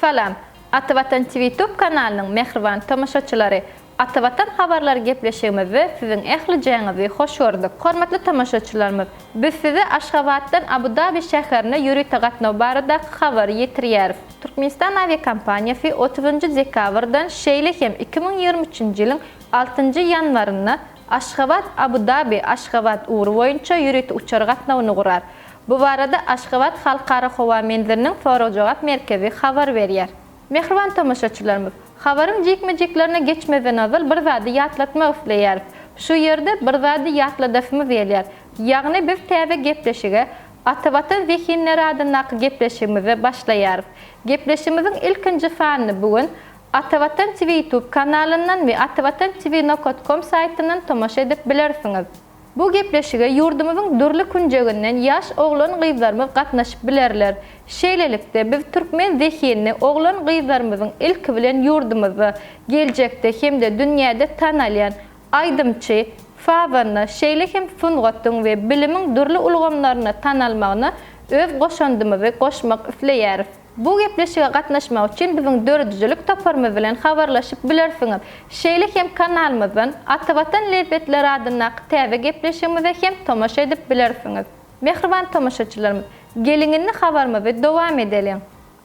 Salam! Ata Watan Twitube kanalynyň mähriban tomaşaçylary! Ata Watan habarlary gepleşigimizde siziň ählijaňyzy hoş gördük. Hormatly tomaşaçylarymyz, biz size Aşgabatdan Abu-Dabi şäherine ýörite gatnaw baradaky habary ýetirýäris. Türkmenistan awiakompaniýasy otuzynjy dekabrdan, şeýle hem iki müň ýigrimi üçünji ýylyň altynjy ýanwarynda Aşgabat, Abu Dabi, Aşgabat ugry boýunça ýörite uçar gatnawyny gurar. Bu barada Aşgabat Halkara howa menziliniň sorag-jogap merkezi habar berýär. Mähriban tomaşaçylarymyz, habaryň jikme-jiklerine geçmezden ozal bir zady ýatlatmak isleýäris. Şu ýerde bir zady ýatladasymyz gelýär. Ýagny biz täze gepleşige Ata Watan zehinleri adyndaky gepleşigimize başlaýarys. Gepleşigimiziň ilkinji sanyny bu gün Atavatan TV YouTube kanalyndan we Atavatan TV Nokat kom saýtyndan tomaşa edip bilersiňiz. Bu gepleşige ýurdumyzyň dürli künjeginden ýaş oglan-gyzlarymyz gatnaşyp bilerler. Şeýlelikde, biz türkmen zehinini oglan-gyzlarymyzyň ilki bilen ýurdumyzda, geljekde hem-de dünýäde tanalýan aýdymçy, sazanda, şeýle hem sungatyň we bilimiň dürli ulgamlarynda tanalmagyna öz goşandymyzy goşmak isleýäris. Bu gepleşige gatnaşmak üçin biziň döredijilik toparymyz bilen habarlaşyp bilersiňiz. Şeýle hem kanalymyzdan Atavatan lezzetleri adyndaky täze gepleşigimize hem tomaşa edip bilersiňiz. Mähriban tomaşaçylarymyz, geliň indi habarymyzy dowam edeliň.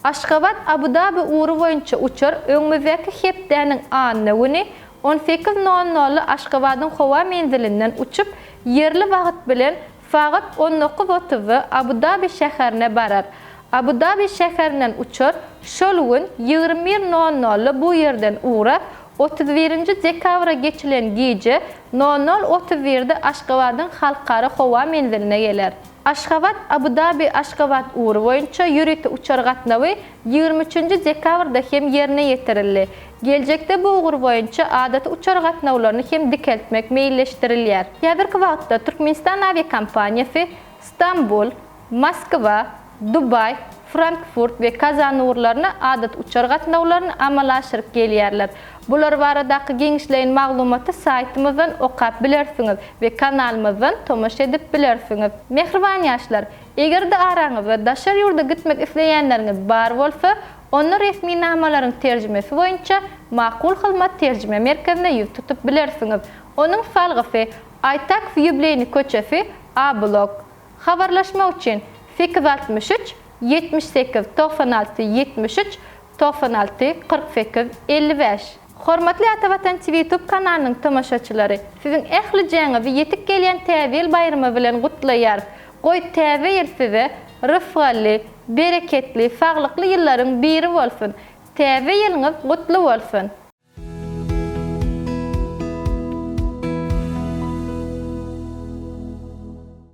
Aşgabat Abu-Dabi ugry boýunça uçar öňümizdäki hepdäniň anna güni on sekiz nol nolda Aşgabadyň howa menzilinden uçup, ýerli wagt bilen Sagat on dokuz otuzda Abu-Dabi şäherine barar. Abu-Dabi şäherinden uçar, şol gün ýigrimi bir nol nolda bu ýerden ugrap, otuz birinji dekabra geçilen gije nol nol otuz birde Aşgabadyň halkara howa menziline geler. Aşgabat-Abu-Dabi-Aşgabat ugry boýunça ýörite uçar gatnawy ýigrimi üçünji dekabrda hem ýerine ýetirildi. Geljekde bu ugur boýunça adaty uçar gatnawlaryny hem dikeltmek meýilleşdirilýär. Häzirki wagtda Türkmenistan awiakompaniýasy Stambul, Moskwa, Dubaý, Frankfurt we Kazan ugurlaryna adaty uçar gatnawlaryny amala aşyryp gelýärler. Bular baradaky giňişleýin maglumaty saýtymyzdan okap bilersiňiz we kanalymyzdan tomaşa edip bilersiňiz. Mähriban ýaşlar! Eger-de araňyzda daşary ýurda gitmek isleýänleriňiz bar bolsa, onda resminamalaryň terjimesi boýunça Makul Hyzmat terjime merkezine ýüz tutup bilersiňiz. Onuň salgysy, Aýtak Ýubleýny köçesi, A blok. Habarlaşmak üçin, sekiz altmyş üç, ýetmiş sekiz, togsan alty, ýetmiş üç, Togsan alty, kyrk sekiz, elli bäş. Hormatly Ata Watan TV YouTube kanalynyň tomaşaçylary, siziň ählijaňyzy ýetip gelýän Täze ýyl baýramy bilen gutlaýarys! Goý, Täze ýyl size rysgally, bereketli, saglykly ýyllaryň biri bolsun! Täze ýylyňyz gutly bolsun!